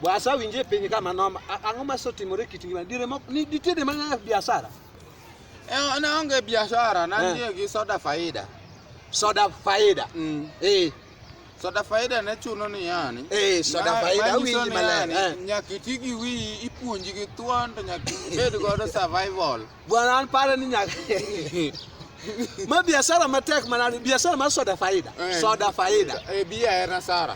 Bwasa winje piny kama noma. A- Ang'o ma sotimore kit ngima? Dire mok ni ditede ma nyaka biashara. Eh, ne onge biashara nantie gi soda faida Soda faida. mm. Eh, soda faida ne chuno ni yani Eh, soda Ma- faida, manyiso awinji ni maler, yani, eh. nyaka iti gi wiyi ipuonji gi thuon to nyaka ibed godo survival bwana an pare ni nyaka. Ma biashara matek manani, biashara mar soda faida. Eh. Soda faida. e biya en asara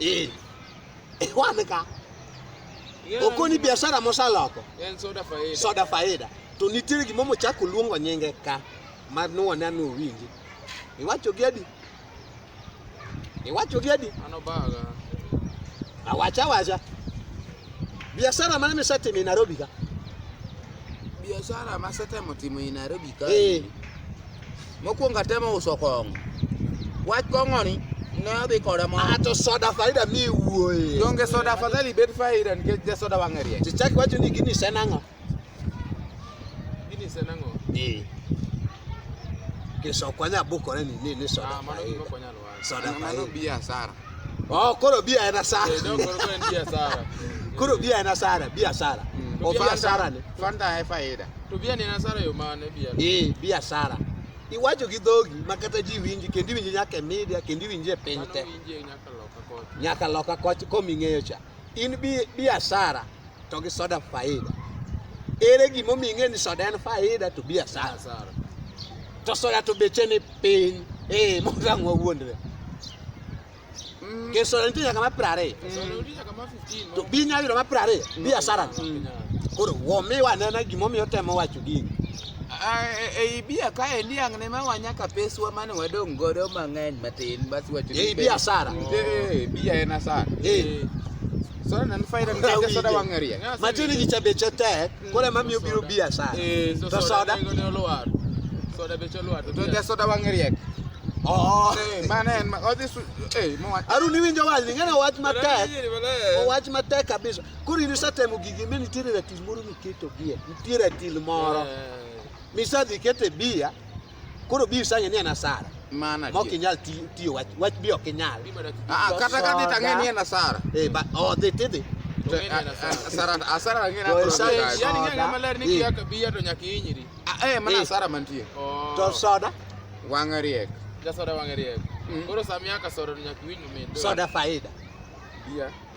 Eh. Eh, wameka. Oko ni biashara mosaloko. En soda faida. Soda faida. To nitiere gima mochak oluongo nyinge ka ma nuwone anu winji. Iwacho gi adi? Iwacho gi adi? Ano baga. Awacha wacha. Biashara mane misetimo e Nairobi ka? Biashara masetemo timo e Nairobi ka. Eh. Mokwongo atemo uso kong'o. Wach kong'oni ne odhi koda mo. Ah, to soda faida mi wuoye. Donge soda afadhali bed faida nikech ja soda wang'e rieny. To chak wacho ni gini sen ang'o? Gini sen ang'o? Ee. Kisokwa nyabukore ni ni ni soda Ah, mano gima faida. okwanyal wacho. sadaka hii. Bia hasara. Oh, koro bia ena sara. Ndio koro koro bia sara. Koro bia ena sara, bia sara. Mm. Ofia sara ni. Fanta hai faida. To bia ni ena sara yo mane bia. Eh, bia sara. Iwacho gi dhogi ma kata ji winji kendi winji nyaka e media kendi winji e piny te. Nyaka loka kocha. Nyaka loka kocha koming'eyo cha. in biashara to gi soda faida. Ere gima omiyo ing'e ni soda en faida to biashara sara. To soda to beche ni piny. Eh, mondo ang' wawuondre. Ke soda nitie nyaka ma piero ariyo. To bi inyalo yudo ma piero ariyo biashara. Koro wamiwa anena gima omiyo otemo wacho gini. Ei bia kae niang' ne mawa nyaka peswa mane wadong' godo mang'eny matin basi wacho ei bia sara eh bia en asara eh soda nan faida mtende soda wangeria matini gicha beche tek kole mamiyo biro bia sara eh to soda soda beche lwar to soda wangeria Oh. Eh, mane en odhi eh mo Aru ni winjo wal ni ngana wach matek. Wach matek kabisa. Kuri ni satemo gigi mimi tiri Moro miketo bia, nitiere atil moro. Eh. Misadhi kete bia, koro bia isang'e ni en asara. Mana ok inyal tiyo wach wach bi ok inyal. Ah, ah kata kata tang'e ni en asara. Eh, ba oh dhi tidhi. Asara asara ng'e na. Yani ng'e maler ni kia eh. bia to nyaka inyiri. Ah, eh, mana eh. asara mantie. Oh. To soda wang'e riek. Ja soda wang'e riek. Mm. Koro samia ka soda nyaka winj mit. Soda faida. Bia.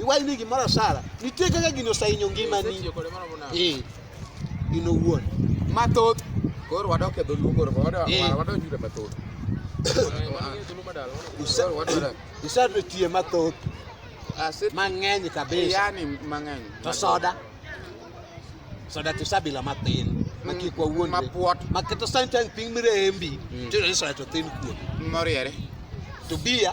iwachni gimoro asara nitie kaka gini osahinyo ngimani eh, in owuon mathoth koro wadok e dholuo koro eh. wadonjure mathoth isebetie mathoth mang'eny kabisa to soda soda to sabila mathin makik wawuon mapuot maketo santan piny mirembi mm. tiyudo ni soda to thin kuom moriere to bia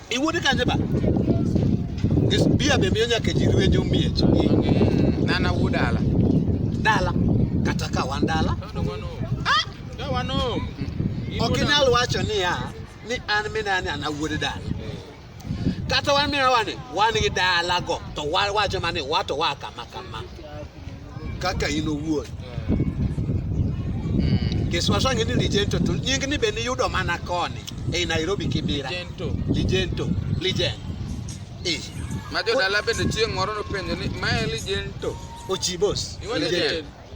Iwuode kanje ba? Is bia be miyo nyaka ji rwenjo miech. Nana wuod dala. Dala. Kata ka wan dala. Ah! Ka wan home. Ok inyal wacho niya ni an minani an awuod dala. Kata wan minani wan gi dalago to wawacho mani wato wa kama kama. kaka in owuon hmm. kiswaso ang'e ni ligento to nying ni be niyudo mana koni ei nairobi kibira ligento ligen eh. ma jodala bende chieng' moro nopenjo ni mae ligento ochibos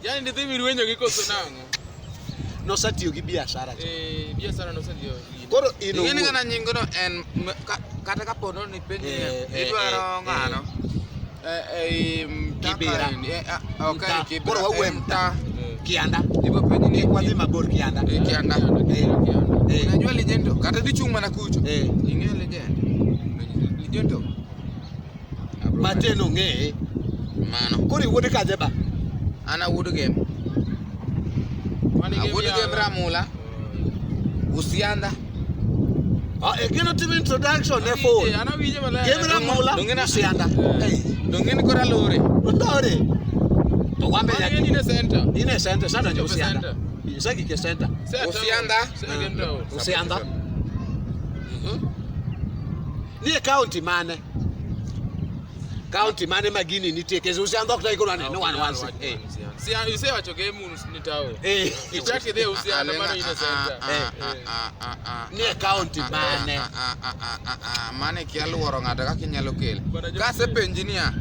yani ndidhi mirwenyogi koso nang'o nosetiyo gi biashara cha. Eh, biashara nosetiyo. Koro in owuon. Ing'e kana nyingono en kata ka pono ni penye eh, eh, idwaro eh, ng'ano. Eh, eh, Kibira. Okay, Kibira. Koro wawe mta. Kianda. Ibo penye ni wadhi mabor Kianda. Eh, Kianda. Eh, Kianda. Eh. Unajua legend kata dichung' mana kucho. Eh. Ing'e legend. Legend. Matin ong'eye. Mano. Koro iwuode kaje ba? An awuod gem. Awuod gem Ramula. Usianda. Ah, e gino timo introduction ne phone. Gem Ramula. Usianda. Dongeni eh. kora lore. Lore. To wambe ya. Ni ne center. Ni ne center sana ndio Usianda. Sasa kike center. Usianda. Usianda. Mhm. Ni county mane? County mane magini nitie kesi usiandhok ta iko nani no one wants it. Eh. Si you say wacho game unu ni tao. Eh. Ichaki de usianda mano ine center. Eh. Ni county mane. Mane ki aluoro ng'ato kaka inyalo kele. Ka se penji niya.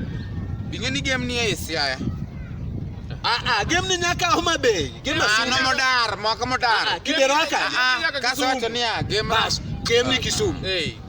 Bing'e ni game ni e Siaya. Ah ah, game ni nyaka Homa Bay. Game ah, asina. Ano modar, moko modar. Ah, ah, Kideraka. Ah, Kaso wacho niya, game. Bas, game ni Kisumu. Eh.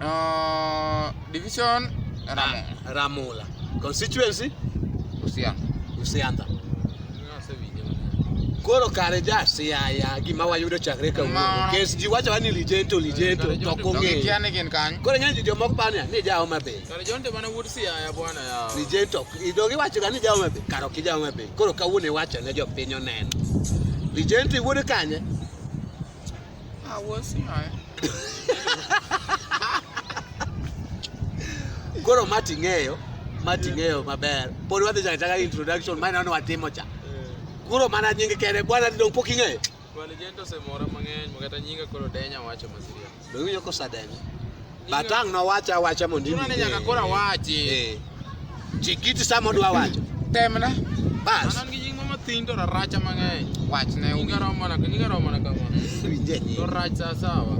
Uh, division Ramola. Ramola. Constituency? Usianda. Usianda. Koro kare ja siaya gima wayudo chakre kawuono. Kes ji wacho ni lijento lijento to ok ong'eyo. Kia ni gin kany. Koro ng'eny ji jomoko paro ni ja Homa Bay. Kare jonte mana wuod siaya bwana ya. Lijento. Idog iwacho ga ni ja Homa Bay. Karo ki ja Homa Bay. Koro kawuono iwacho ne jopiny oneno. Lijento iwuod kanye? Ah, we'll see her. Koro mati ng'eyo, mati ng'eyo maber. Pod wadhi chaka chaka introduction ma ineno watimo cha. Koro mana nyinge kende bwana dong pok ing'eyo. Bwana Jento osemora mang'eny, makata nyinga koro denya wacho masiria. Be winjo kosadenya? Batang no wacha awacha mondo Chuno ni nyaka koro awachi. Eh. Chikiti sama odwa wacho. Temna. Bas. An gi nying mama thin to raracha mang'eny. Wachne Nyinga owinjo. romo na nyinga romo na kama. Winje To nyingi. rach sa sawa.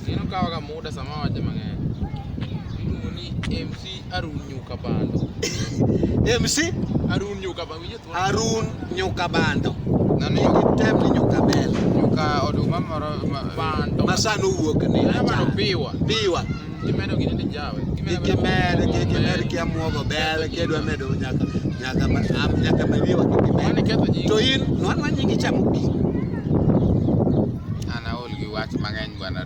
Neno kawa ka muda sama wache mang'eny. Iluongo ni MC Arun Nyuka Bando. MC Arun Nyuka Bando. Winjo Harun nyuka bando. Nani tem ni nyuka bel. Nyuka oduma moro ma bando. Masano wuok ni. Bando piwa. Piwa. Kimedo gini ni jawe. Kimedo kimedo kia muogo bel kedwa medo nyaka nyaka ma am nyaka ma biwa kimedo. To in nwan nwan nyingi chamo pi. Ana ol gi wach mang'eny bwana.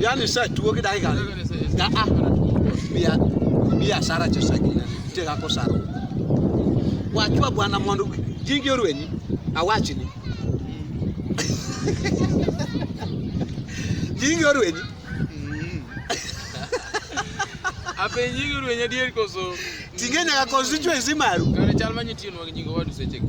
Yaani sasa tuoge dakika. Ah ah. Bia bia sara cha sagina. Tega ko sara. Wachwa bwana mondo jingi orwenyi awachi ni. Jingi orwenyi. Mm. Ape jingi orwenyi adier koso. Tinge nyaka constituency maru. Kare chal manyitie nwa nyingo wadu sechego.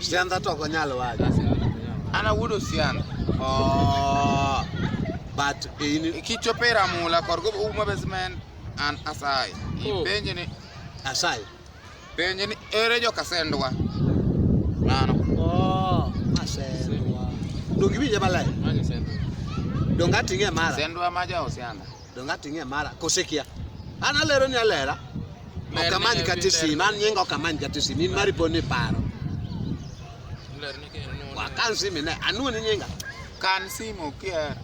Sianda to ok nyal wacho. Ana wudo sianda. Oh. But in kichopo e ramula korgo uma basement an asai. Oh. Ipenje ni asai. Penje ni ere joka sendwa. Mano. Oh, asendwa. Dongi winje balai. Mani sendwa. Donga tinge mara. Sendwa maja osianda. Donge ating'e mara kose kia? An alero ni alera. Ok amany kata e sim, an nyinga ok amany kata e sim, in mari pod ni paro. Wakan simu ne, anwo ni nyinga. Kan simu kier.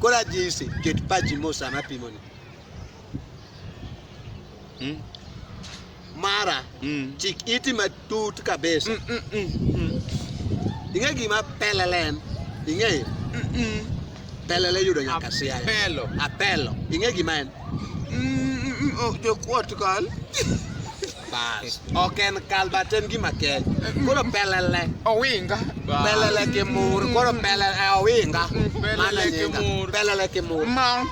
Kora jinsi, ket pachi mos sama apimoni. Hmm? mara mm. chik iti matut kabisa mm, mm, mm, mm. ing'e gima pelele en ing'eyo mm, mm. pelele yudo nyaka siaya apelo apelo ing'e gima en mm, mm, mm oh, jokuot kal bas ok en kal but en gima keny koro pelele owinga pelele kimur koro pelele eh, owinga mm, pelele kimur pelele kimur ma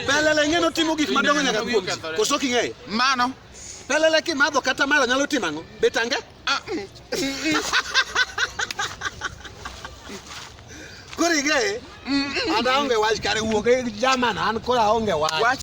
Pelele ng'e notimo gik madongo nyaka kuom koso king'eyo mano pelele kimadho kata mala nyalo timo ang'o betange ah, mm, mm, mm. koro ing'eye an aonge wach kare wuok e jaman an koro aonge wach